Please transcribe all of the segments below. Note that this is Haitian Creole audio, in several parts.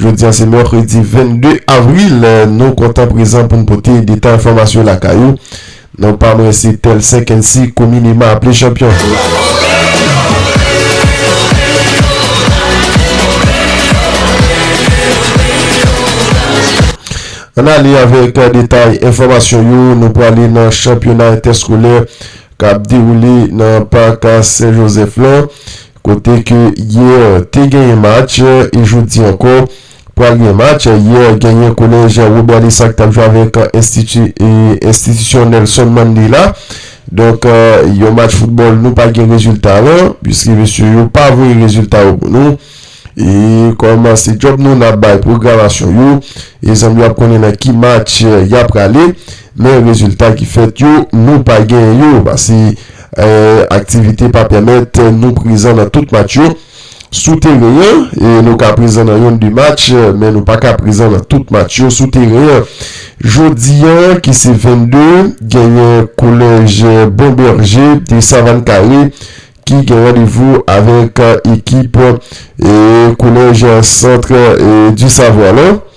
Jodi a se mèkredi 22 avril, nou kontan prezan pou n pote detay enfòmasyon lakay ou. Non pa mwen se Telcin Kency komineman aple Chanpyon. Ann ale avèk detay enfòmasyon yo, nou prale nan chanpyona entèskolè k ap dewoule nan pak Sen Jozèf lan. Kote ke hier te genyen match e jodi ankò pral gen match, hier genyen kolèj Robert Lessac tap jwe avèk enstitisyon Nelson Mandela, donk yon match football nou pa gen rezilta lan piske mesye yo pa voye rezilta yo pou nou e kòm se djòb nou nap bay pwogramasyon yo e zanmi yo ap konnen nan ki match yap prale. Men rezilta ki fèt yo, nou pa gen yo pase aktivite pa pèmèt nou prezan nan tout match yo. Sou teren an, nou ka prezan nan yon de match, men nou pa ka prezan nan tout match yo sou teren an. Jodi an ki se 22, genyen Kolèj Bon Bèje de Savann Kare ki gen randevou avèk ekip Kolèj Centre du Savoir lan.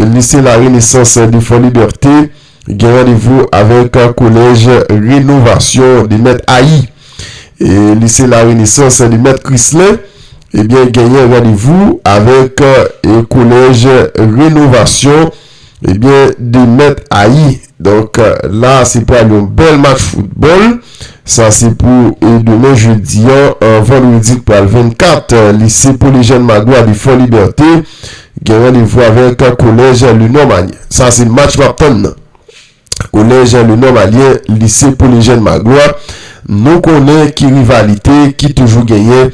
Lise La Renesans de Fòlibète gen randevou avèk Kolèj Renovasyon de Mèt Ayi. Lise La Renesans de Mèt Krislen ebyen genyen randevou avèk Kolèj Renovasyon ebyen de Mèt Ayi. Donk la se pral yon bèl match foutbòl. Sa se pou demen jedi an, vandredi k pral 24. Lise Polejèn Magwa de Fòlibète. Gen randevou avèk Kolèj Le Normandien. Sa se match map tann nan. Kolèj Le Normandien, Lise Pole Jèn Magloire. Nou konnen ki rivalite ki toujou genyen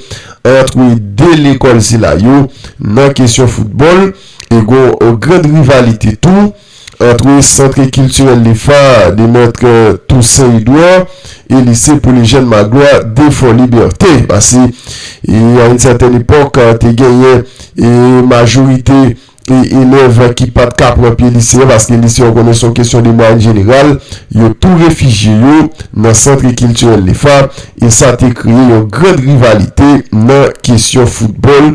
antre 2 lekòl sila yo nan kesyon foutbòl. E gon grand rivalite tou. Antre Centre Culturel Les Phares de Maître Toussaint Edouard et Lycée pour les Jeunes Magloire de Fort Liberté. Pase a yn sètèn epòk te genyen majorite elèv ki pa t ka pran pye lise a paske lise a ou konnen se yon kesyon de mwayèn jeneral, yo tou refijye yo nan Centre Culturel Les Phares e sa te kreye yon grand rivalite nan kesyon foutbòl.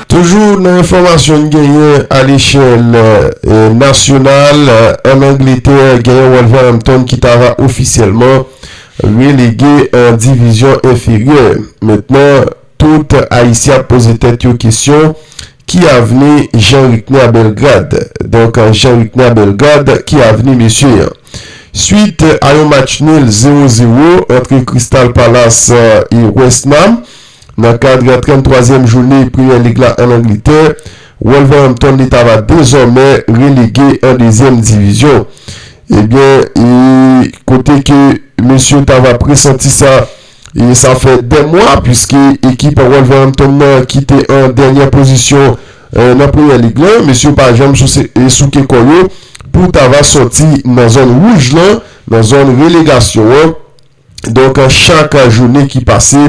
Toujou nan enfòmasyon n genyen alechèl nasyonal, ann Angletè genyen Wolverhampton ki ta va ofisyèlman relege an divizyon enferyè. Mentnan tout Ayisyen ap poze tèt yo kesyon, ki avni Jean Ricner Bellegarde? Donk Jean Ricner Bellegarde, ki avni mesye an? Swit a yon match nil 0 0 antre Crystal Palace e West Nam, Nan kad 33 zièm joune Premier League la an Angletè, Wolverhampton li ta va dezòmè relege an 2 zièm divizyon. Ebyen e kote ke mesye ta va presanti sa e sa fè 2 mwa puiske ekip Wolverhampton nan ki te an dènyè pozisyon nan Premier League la, mesye yo pa janm souse e souke kò yo pou ta va sòti nan zòn wouj lan, nan zòn relegasyon an. Donk chak jounen ki pase,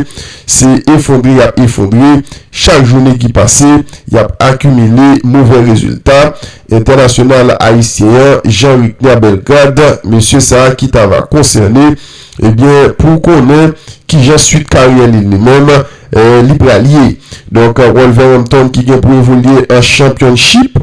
se efondre y ap efondre. Chak jounen ki pase, y ap akimile movè rezilta. Entènasyonal ayisyen an, Jean Rickner Bellegarde, mesye sa a ki ta va konsène, ebyen pou konnen ki jan suit karyè li li menm, li pral ye. Donk Wolverhampton ki gen pou evolye an Championship,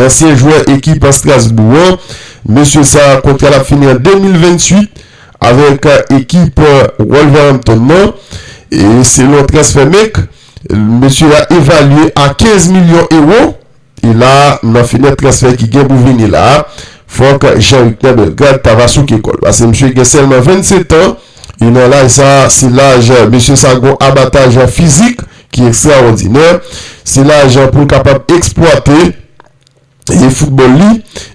Ansyen jwè ekip an Strasbourg an, mesye sa a kontra l ap fini an 2028 avèk ekip Wolverhampton nan. E selon Transfermarkt, mesye a evalye a 15 milyon ewo. E la a, nan fenèt transfè ki gen pou vini la a, fòk Jean Ricner Bellegarde ta va souke kò l. Pase mesye gen sèlman 27 an, e nan laj sa a, se laj mesye sa a gen yon abataj fizik. ki ekstraòdinè, se lajan pou l kapab eksplwate e foutbòl li,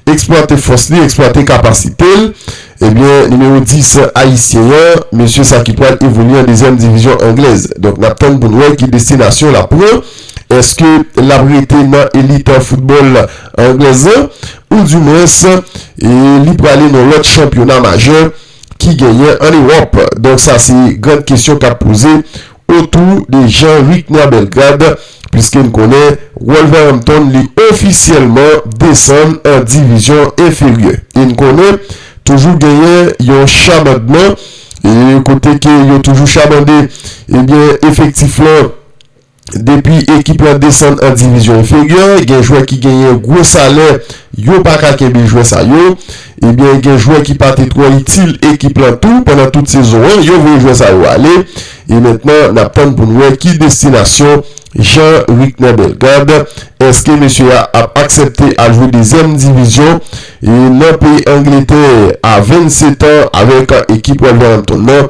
eksplwate fòs li, eksplwate kapasite l. Ebyen, nimewo 10 ayisyen an, mesye sa ki pral evolye an dezyèm divizyon anglèz. Donk n ap tann pou n wè ki destinasyon l ap pran. Eske l ap rete nan elit foutbòl anglèz lan ou di mwens li prale nan lòt chanpyona majè ki genyen an Ewòp? Donk sa se gran kesyon k ap poze. otou de Jean Ricner Bellegarde puiske n konnen Wolverhampton li ofisyèlman desann an divizyon enferyè e n konnen toujou genyen yon chabandman e kote ke yo toujou chabande ebyen efektif lan depi ekip lan desann an divizyon enferyè gen jwè ki genyen gwo salè yo pa ka kenbe jwè sa yo. Ebyen gen jwè ki pa te twò itil ekip lan tou pandan tout sezon an, yo voye jwè sa yo ale e mentnan n ap tann pou n wè ki destinasyon Jean Ricner Bellegarde, èske mesye a ap aksèpte al jwe dezyèm divizyon nan peyi Angletè a 27 an avèk ekip Wolverhampton nan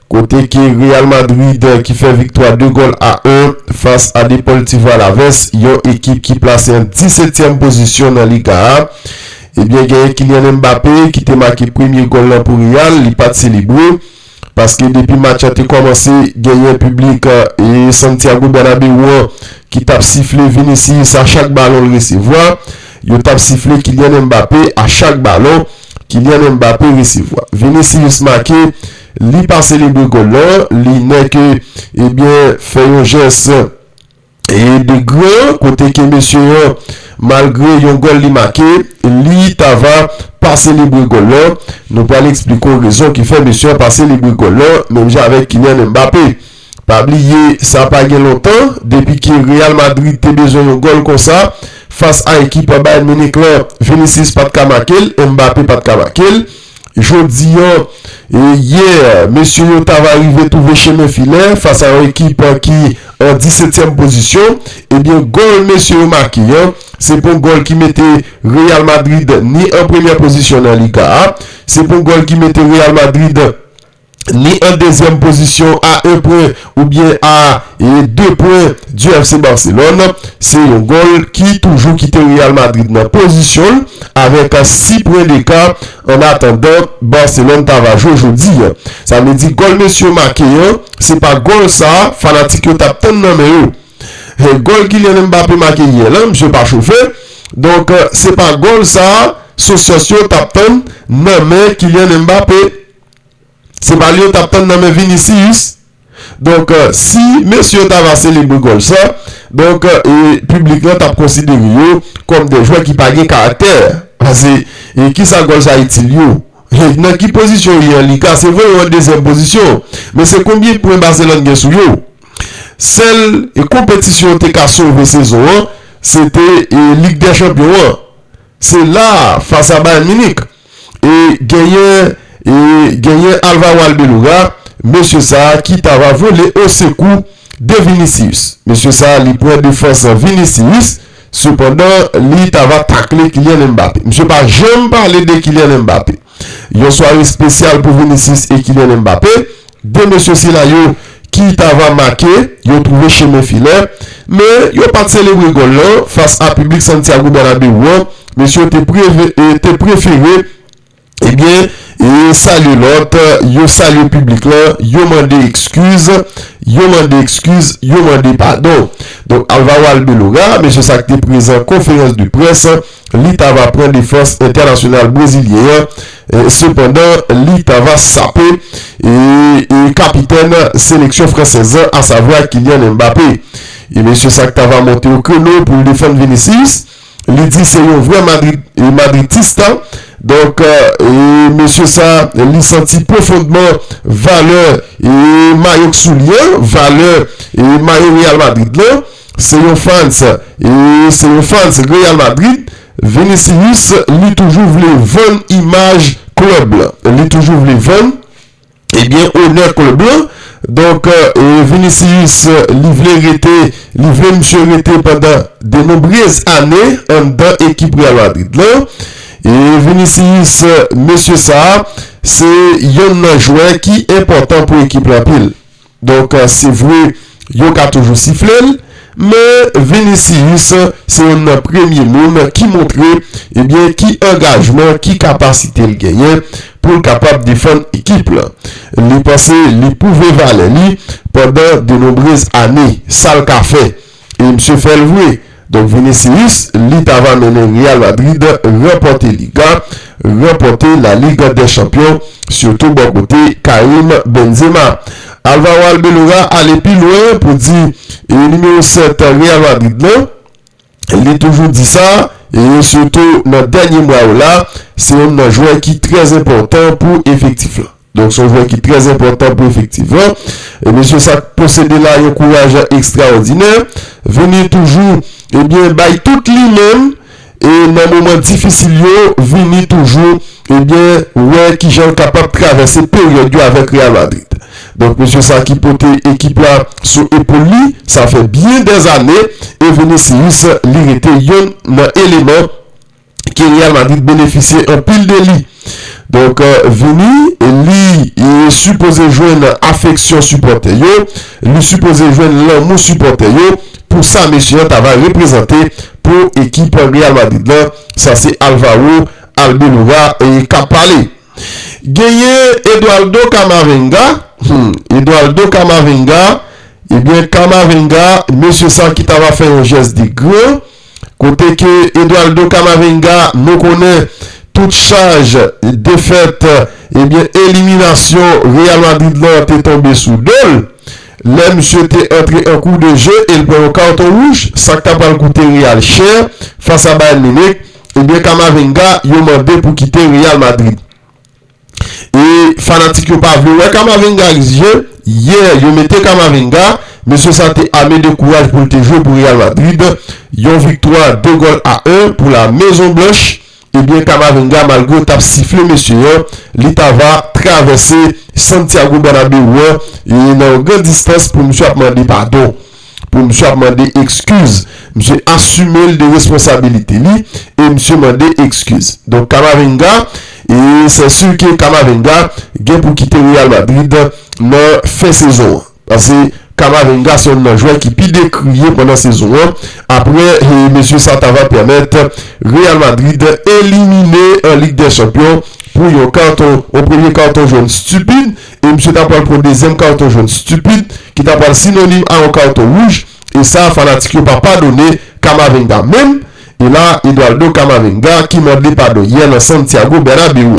Kote ke Real Madrid ki fè viktwa 2 gòl a 1 fas a Deportivo Alaves, yon ekip ki plase an disetyèm pozisyon nan Liga a, ebyen genyen Kylian Mbappé ki te make premye gòl lan pou Real, li pat selebre, paske depi match an te kòmanse genyen piblik Santiago Bernabeu an ki tap sifle Vinicius a chak balon l resevwa, yo tap sifle Kylian Mbappé a chak balon Kylian Mbappé resevwa. Vinicius make. Li pa selebre gòl lan, li nèke ebyen fè yon jès de gran kote ke mesye an malgre yon gòl li make, li ta va pa selebre gòl lan. Nou pral eksplike w rezon ki fè mesye an pa selebre gòl lan menm jan avèk Kylian Mbappé. Pa bliye sa pa gen lontan depi ke Real Madrid te bezwen yon gòl konsa fas a ekip Bayern Munich lan, Vinicius pat ka makel, Mbappe pat ka makel. Jodi an, yè, mesye yo ta va rive twouve chemen filè fas a yon ekip ki an disetyèm pozisyon, ebyen gòl mesye yo make an, se pou yon gòl ki mete Real Madrid ni an premyè pozisyon nan Liga a, se pou yon gòl ki mete Real Madrid. ni an dezyèm pozisyon a 1 pwen oubyen a 2 pwen di FC Barcelone. Se yon gòl ki toujou kite Real Madrid nan pozisyon l avèk 6 pwen deka an atandan Barcelone ta va jwe jodi. Sa vle di gòl mesye yo make an se pa gòl sa fanatik yo t ap tann nan men yo. Gòl Kylian Mbappé make yè lan misye pa chofe donk se pa gòl sa Socios yo t ap tann nan men Kylian Mbappé. Se pa li yo tap tann nan men Vinicius donk si mesye yo ta va selebre gòl sa donk piblik lan tap konsidere yo kòm de jwè ki pa gen karaktè pase ki sa gòl sa itil yo nan ki pozisyon yo ye an liga se vre yo an dezyèm pozisyon men se konbyen pwen Barcelone gen sou yo sèl konpetisyon yo te ka sove sezon an se te lig dè chanpyon an se la fas a Bayern Munich E genyen e genyen Alvaro Albelora mesye sa ki ta va vole o sekou de Vinicius. Mesye sa li pran defans Vinicius sepandan li ta va takle Kylian Mbappé. Misye pa janm pale de Kylian Mbappé. Yon sware spesyal pou Vinicius e Kylian Mbappé. De mesye sila yo ki ta va make yo twouve chemen filè, men yo pa t selebre gòl lan fas a piblik Santiago Bernabeu an, mesye yo te prefere ebyen salye lòt, yo salye piblik lan, yo mande ekskiz, yo mande ekskiz, yo mande padon. Donk Alvaro Arbeloa, mesye sa ki te prezan konferans de près. li ta va pran defans entènasyonal brezilyen an, sepandan li ta va sape kapitèn seleksyon fransèz lan asavwa Kylian Mbappé. E mesye sa k ta va monte o kreno pou l defann Vinicius, li di se yon vrè madritista, donk mesye sa li santi pwofondman valè mayo k sou li an, valè mayo Real Madrid lan. Se yon fans e se yon fans Real Madrid, Vinicius li toujou vle vann imaj club lan. Li toujou vle vann ebyen onè club lan. Donk Vinicius li vle rete, li vle misye rete pandan de nombrez ane anndan ekip Real Madrid lan. E Vinicius mesye sa se yonn nan jwè ki enpòtan pou ekip lan anpil. Donk se vre yo ka toujou sifle l, men Vinicius se youn nan premye moun ki montre ebyen ki angajman, ki kapasite l genyen pou l kapab defann ekip lan. Li panse li pwouve valè li pandan denonbrez ane. Sa l ka fè? E misye fèl vre. Donk Vinicius li ta va mennen Real Madrid ranpòte Liga, ranpòte La Ligue des Champions sitou bò kote Karim Benzema. Alvaro Arbeloa ale pi lwen pou di e nimewo 7 Real Madrid lan, li toujou di sa e sitou nan dènye mwa yo la, se yonn nan jwè ki trè enpòtan pou efektif lan. Donk son jwè ki trè enpòtan pou efektif lan. E mesye sa k posede la yon kouraj ekstraòdinè. Vini toujou ebyen bay tout li menm e nan moman difisil yo Vini toujou ebyen wè kijan l kapab travèse peryòd yo avèk Real Madrid. Donk mesye sa ki pote ekip la sou epol li sa fè byen dèzane e Vinicius li rete yonn nan eleman ke Real Madrid benefisye anpil de li. Donk Vini li sipoze jwenn afeksyon sipòtè yo, li sipoze jwenn lanmou sipòtè yo pou sa mesye an ta va reprezante pou ekip Real Madrid lan. Sa se Alvaro Albelora k ap pale. Genyen Eduardo Camavinga, Eduardo Camavinga, ebyen Camavinga mesye sa ki ta va fè yon jès de gran. Kote ke Eduardo Camavinga nou konnen tout chaj defèt ebyen eliminasyon Real Madrid lan te tonbe sou do l, lè misye te antre an kou de je e l pran yon karton wouj, sa k ta pral koute Real chè fas a Bayern Munich, ebyen Camavinga yo mande pou kite Real Madrid. E fanatik yo pa vle wè Camavinga ak zye, yè yo mete Camavinga, mesye sa te ame de kouraj pou l te jwe pou Real Madrid, yon viktwa 2 gòl a 1 pou la Mezon Blanch, ebyen Camavinga malgre yo tap sifle mesye an, li ta va travèse Santiago Bernabeu an nan yon gran distans pou misye ap mande padon. pou misye ap mande ekskiz misye asime li de responsabilite li e misye mande ekskiz donk Camavinga e sè su ke Camavinga gen pou kite Real Madrid nan fen sezon an pase Camavinga se yon nan jwè ki pi dekriye pandan sezon an apre e mesye sa ta va pèmèt Real Madrid elimine an lig dè chanpyon pou yon karton yon premye karton jòn stupid. e misye ta pral pran dezyèm carton jaune stupid ki ta pral synonym a yon carton rouge e sa a fanatik yo pa padone Camavinga menm e la Eduardo Camavinga ki mande padon yè nan Santiago Bernabeu.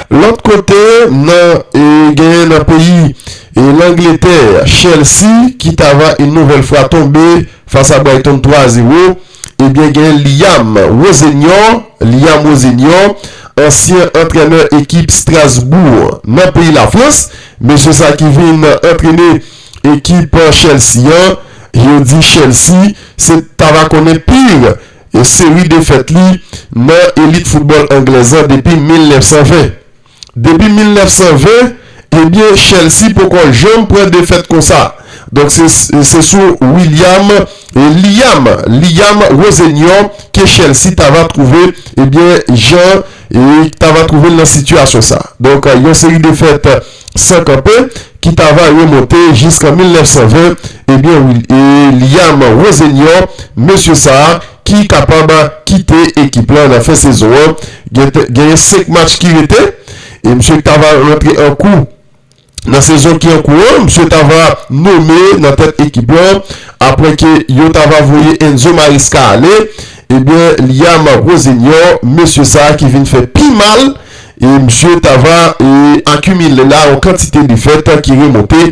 Lòt kote nan e genyen nan peyi e Langletè Chelsea ki ta va une nouvelle fwa tonbe fas a Brighton 3 a 0. Ebyen gen Liam Rosenior, Liam Rosenior, ansyen antrenè ekip Strasbourg nan peyi Lafrans. Mesye sa ki vin antrene ekip Chelsea an, yo di Chelsea se ta va konnen pir seri defèt li nan elit foutbòl anglèz an depi 1920. Depi 1920, ebyen Chelsea poko janm pran defèt konsa. Donk se sou William, Liam, Liam Rosenior ke Chelsea ta va twouve ebyen jan ta va twouve l nan sitiyasyon sa. Donk yon seri defèt san kanpe ki ta va remonte jiskan 1920, ebyen Liam Rosenior, mesye sa, ki kapab kite ekip la nan fen sezon an. Genyen 5 match ki rete e msye ta va rantre an kou nan sezon ki an kou an. Msye ta va nome nan tèt ekip la apre ke yo ta va voye Enzo Maresca ale. Ebyen Liam Rosenior, mesye sa ki vin fè pi mal e msye ta va akimile la yon kantite defèt ki remonte.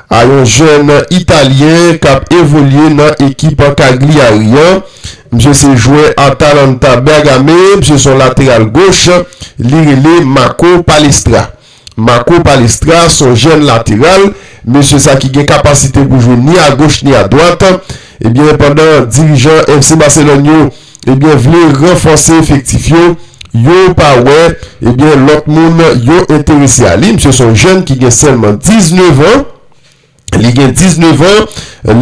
a yon jèn italyen k ap evolye nan ekip Cagliari an. Misye se jwè Atalanta Bergame, misye se yon lateral goch, li rele Marco Palestra. Marco Palestra se yon jèn lateral, mesye sa ki gen kapasite pou jwe ni agoch ni adwat, Ebyen pandan dirijan FC Barcelone yo ebyen vle ranfòse efektif yo, yo pa wè ebyen lòt moun yo enterese a li. Misye se yon jèn ki gen sèlman 19 an, li gen 19 an,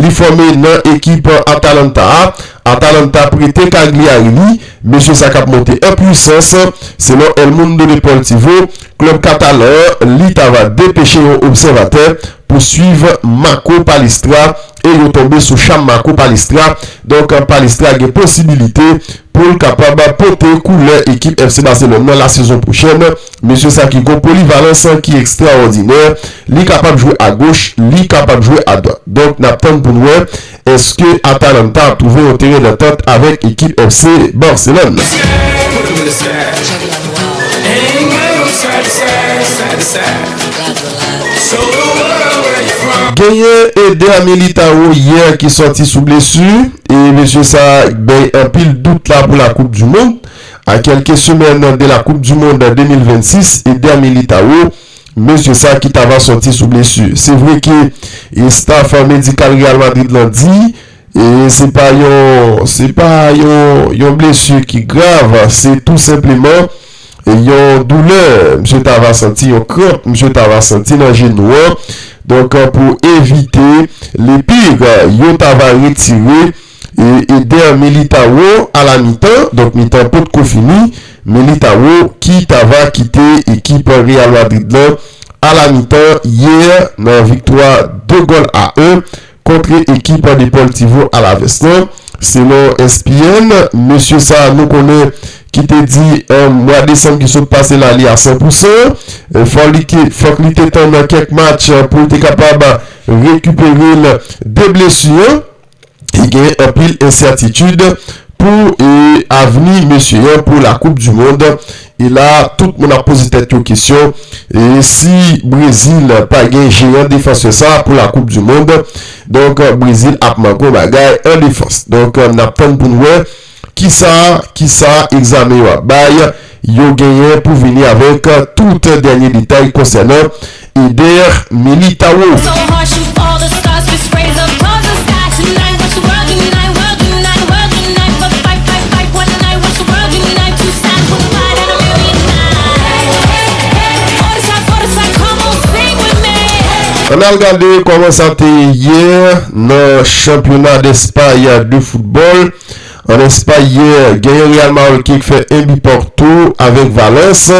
li fòme nan ekip Atalanta a. Atalanta prete Cagliari li, mesye sa k ap monte an pwisans. Selon El Mundo Deportivo, klèb katalan an li ta va depeche yon obsèvatè pou swiv Marco Palestra e yo tonbe sou cham Marco Palestra, donk Palestra gen posibilite pou l kapab pote koulè ekip FC Barcelone nan lasezon pwochèn. Mesye sa ki gon polivalans ki ekstraòdinè, li kapab jwe agoch, li kapab jwe adwat. Donk n ap tann pou n wè èske Atalanta ap twouve yon teren dantant avèk ekip FC Barcelone. Genyen Eder Militao yè ki sòti sou blesu e mesye sa bay anpil dout la pou la koup du mond. A kelke semèn de la koup du mond 2026, Eder Militao, mesye sa ki ta va sòti sou blesu. Se vre ke estaf medikal Real Madrid lan di E se pa yon, se pa yon, yon blesi ki grav, se tou senpleman yon doulè misye ta va santi, yon kranp misye ta va santi nan jenou an. Donk pou evite le pire, yo ta va retire Eder Militao a la mitan, donk mitan pot ko fini, Militao ki ta va kite ekip Real Madrid lan a la mitan yè nan viktwa 2 gòl a 1 kontre ekip Deportivo Alaves lan. Selon ESPN, mesye sa nou konnen ki te di an mwa desanm ki sot pase la li a 100 pou 100, fòk li te tann kèk match pou l te kapab rekipere l de blesu an e gen anpil ensètitid pou avni mesye an pou la koup du mond. E la tout moun ap poze tèt yo kesyon, e si Brezil pa gen jeran defansè sa pou la koup du mond, donk Brezil ap manke yon bagay an defans. Donk n ap tann pou n wè kisa kisa egzamen yo ap bay, yo genyen pou vini avèk tout dènye detay konsènan. Eder Militao. An al gade kòman sa te ye yè nan chanpyona despay de foutbòl. An espay yè gen yon Real Madrid ki fè 1 bi partou avèk Valence.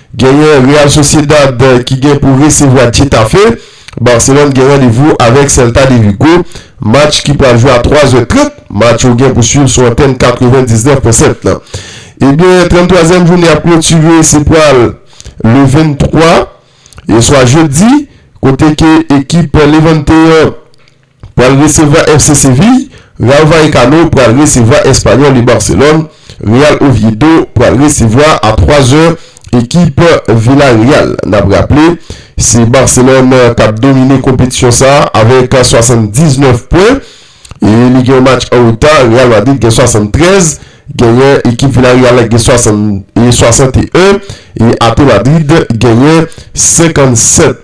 Genyen Real Sociedad ki gen pou resevwa Getafe, Barcelone gen randevou avèk Celta de Vigo, match ki pral jwe a 3 zè 30, match yo gen pou swiv sou antèn 99 pwen 7 lan. Ebyen 33 zièm joune ap klotire se pral le 23 eswa jedi kote ke ekip Levante an Pral resevwa FC Séville, Rayo Vallecano pral resevwa Espanyòl e Barcelone, Real Oviedo pral resevwa a 3 zè ekip Villarreal. N ap raple se Barcelone k ap domine konpetisyon sa avèk 79 pwen e li gen yon match an reta, Real Madrid gen 73, genyen ekip Villarreal la ki gen 61 e Ate Madrid genyen 57.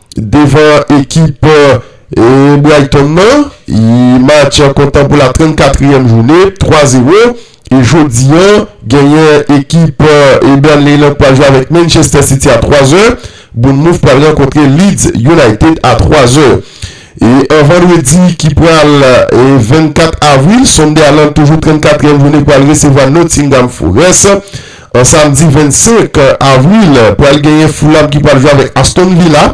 Devan ekip Brighton nan, match an kontan pou la 34 yèm jounen, 3 0. E jodi an, genyen ekip Burnley lan k pral jwe avèk Manchester City a 3 zè. Bournemouth pral rankontre Leeds United a 3 zè. E an vandredi ki pral 24 avril, Sunderland toujou 34 yèm jounen pral resevwa Nottingham Forest. An samdi 25 avril pral genyen Fulham ki pral jwe avèk Aston Villa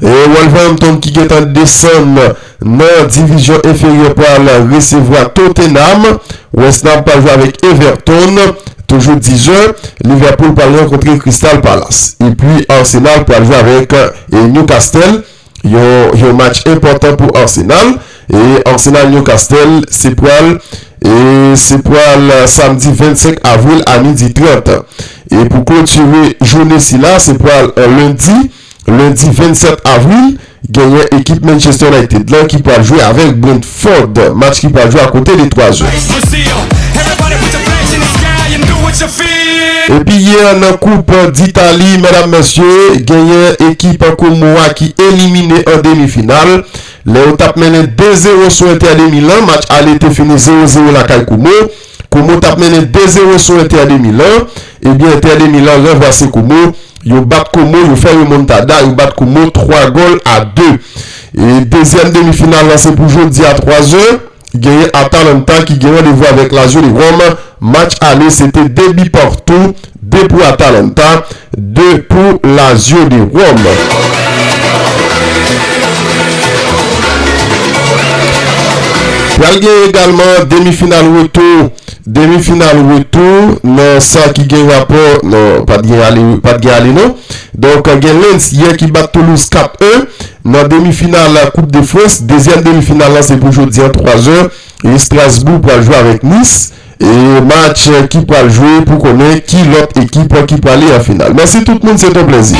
e Wolverhampton ki gentan desann nan divizyon enferyè pral resevwa Tottenham. West Ham pral jwe avèk Everton toujou 10 zè. Liverpool pral rankontre Crystal Palace. Epi Arsenal pral jwe avèk Newcastle. Yon match enpòtan pou Arsenal e Arsenal Newcastle se pral e se pral samdi 25 avril a midi 30 e pou klotire joune sila se pral an lendi lendi 27 avril genyen ekip Manchester United lan ki pral jwe avèk Brentford. Ford, match ki pral jwe a konte de 3 zè. Epi yè nan koup ditali medam mesye genyen ekip Como a ki elimine an demi final lè yo tap mennen 2 zero sou Inter de Milan, match ale te fini 0 0 lakay Como. Como tap mennen 2 zero sou Inter de Milan, ebyen Inter de Milan ranvwase Como, yo bat Como, yo fè remontada, yo bat Como 3 gòl a 2. E dezyèm demi final la se pou jodi a 3 zè, genyen Atalanta ki gen randevou avèk Lazio de Rome, match ale se te 2 bi partou, 2 pou Atalanta, 2 pou Lazio de Rome. Pral gen egalman demi final retou, demi final retou nan sa ki gen rapò, non pat gen ale, pat gen ale non. Donk gen Lens yè ki bat Toulouse 4, 1 nan demi final koup de Frans, dezyèm demi final lan se pou jodi an 3 zè, Estrasbou pral jwe avèk Nis, E match ki pral jwe pou konnen ki lòt ekip ki prale an final. Mèsi tout moun se ton plèzi.